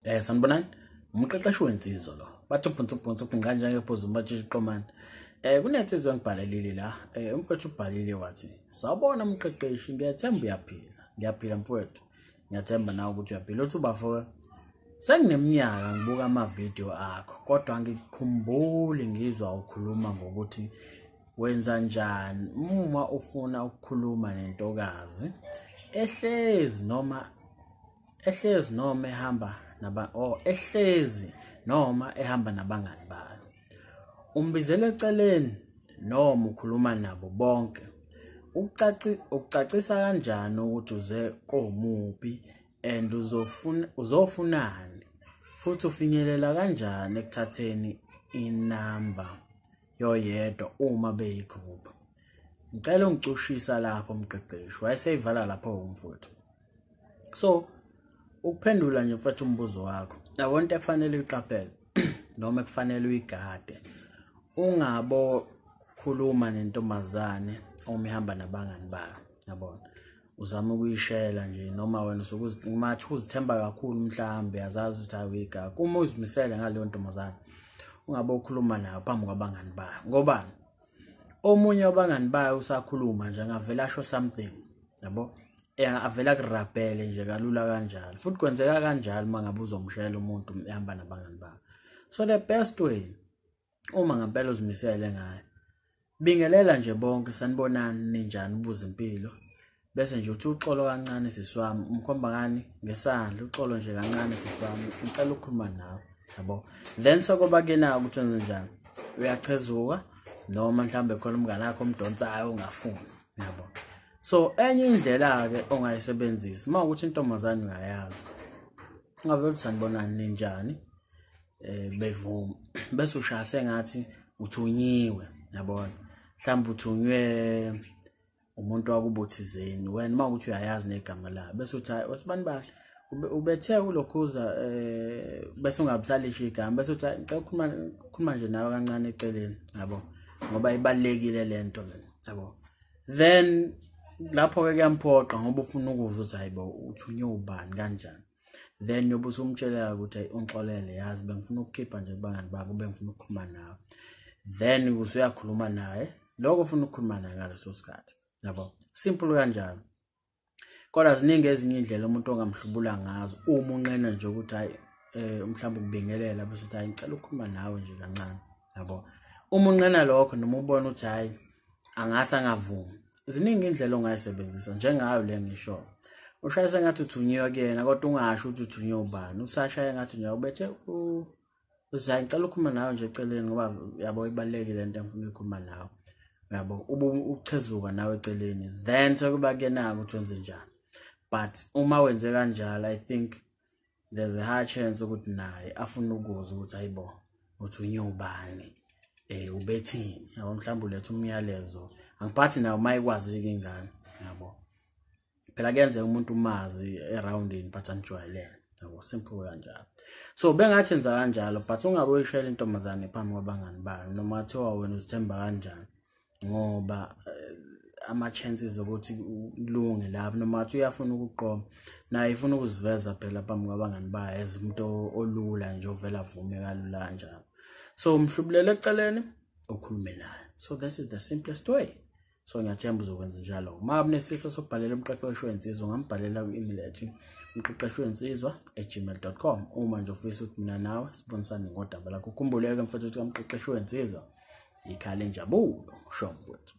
eh sanibonani umqeqeshi wensizwa lo bathi ubhunsa ubhunsa ubhinqa njenge phuza umatshitshi qomane eh kunensizwa engibhalelile la eh umfowethu ubhalile wathi sawubona umqeqeshi ngiyethemba uyaphila ngiyaphila mfowethu ngiyathemba nawe ukuthi uyaphila uthi ubafo sengineminyaka ngibuka amavidiyo akho kodwa ngikukhumbuli ngizwa ukhuluma ngokuthi wenza njani uma ufuna ukukhuluma nentokazi ehlezi noma ehlezi noma ehamba naba oh ehlezi noma ehamba nabangani bayo Umbizela eceleni noma ukhuluma nabo bonke. Ukucaci ukucacisa kanjani ukuthi uze komuphi and uzofuna uzofunani futhi ufinyelela kanjani ekuthatheni inamba yoyedwa uma beyigroup. Ngicela ungicushisa lapho mqeqeshi wayeseyivala lapho umfuthu. so ukuphendula nje mfethu umbuzo wakho yabona into ekufanele uyiqaphele noma ekufanele uyigade ungabo khuluma nentombazane omihamba nabangani bayo yabona uzama ukuyishela nje noma wena usukuzimathe uzithemba kakhulu mhlawumbe azazi ukuthi ayiwiga kuma uzimisele ngaleyo ntombazane ungabe ukhuluma nayo phambi kwabangani bayo ngobani omunye wabangani bayo usakhuluma nje angavele asho something yabo ya avela kurabhele nje kalula kanjalo futhi kwenzeka kanjalo uma ngabe uzomshayela umuntu ehamba nabangani bakho so the best way uma ngempela uzimisele ngayo bingelela nje bonke sanibonani ninjani ubuza impilo bese nje uthi uxolo kancane siswami umkhomba ngani ngesandla uxolo nje kancane siswami ngicela ukukhuluma nawe yabo then sokoba ke na ukuthi wenze njani uyachezuka noma mhlambe khona umngane wakho omdonsayo ungafuni yabo so enye indlela-ke ongayisebenzisi uma ukuthi intombazane uyayazi ungavele ukuthi sanibonani ninjani um bevuma bese ushaya sengathi uthunyiwe yabona mhlawumbe uthunywe umuntu wakubuthizeni wena uma ukuthi uyayazi negama la bese uthi hayi osibani bahle ubethe ulokhuza um eh, bese ungabusalisho igama bese uthi ngicela ukukhuluma nje nawe kancane eceleni yabo ngoba ibalulekile le nto yabo then lapho-ke kuyamphoqa ngoba ufuna ukuzwa ukuthi hayi bo uthunywe ubani kanjani then yobe usumtsheleka ukuthi ayi ungixolele yazi bengifuna ukukhipha nje kubangani bakho bengifuna ukukhuluma nawe then usuyakhuluma naye lokho ufuna ukukhuluma naye ngaleso sikhathi yabo simple kanjalo kodwa ziningi ezinye indlela umuntu ongamhlubula ngazo uma unqena nje ukuthi hayi eh mhlawumbe ukubingelela bese uthi hayi ngicela ukukhuluma nawe nje kancane yabo uma unqena lokho noma ubona ukuthi hayi angase angavumi ziningi indlela ongayisebenzisa njengayo le ngisho ushayise ngathi uthunyiwe kuyena kodwa ungasho ukuthi uthunyiwe ubani usashaye ngathi nje ubethe u uze ngicela ukukhuluma nawe nje eceleni ngoba yabo ibalulekile lento engifuna ukukhuluma nawe yabo ubu uchezuka nawe eceleni then sekuba kenaka ukuthi wenze njani but uma wenze kanjalo i think there's a high chance ukuthi naye afuna ukuzwa ukuthi hayibo uthi unyobani eh ubethini yabo mhlawumbe uletha umyalezo angiphathi nayo uma ikwazi-ke ingane yabo phela kuyenzeka umuntu umazi eroundini but anijwayelene yabo simple kanjalo so bengathi enza kanjalo but ungabe uyishayela intombazane phambi kwabangani bayo noma kuthiwa wena uzithemba kanjani ngoba eh, ama-chances okuthi ulunge lapho noma athi uyafuna ukuqoma naye ifuna ukuziveza phela phambi kwabangani bayo as umuntu olula nje ovela avume kalula kanjalo so umhlubulele eceleni ukhulume naye so that is the simplest way so ngiyathemba uzokwenza njalo uma unesifiso sokubhalela umqeqeshi wensizwa ungambhalela kwi-email ethi umqeqeshi wensizwa egmail com uma nje ufisa ukuthi mina nawe sibonisane ngodaba lakho ukhumbuleke mfethu ukuthi kamqeqeshi wensizwa yikhale njabulo usho mfowethu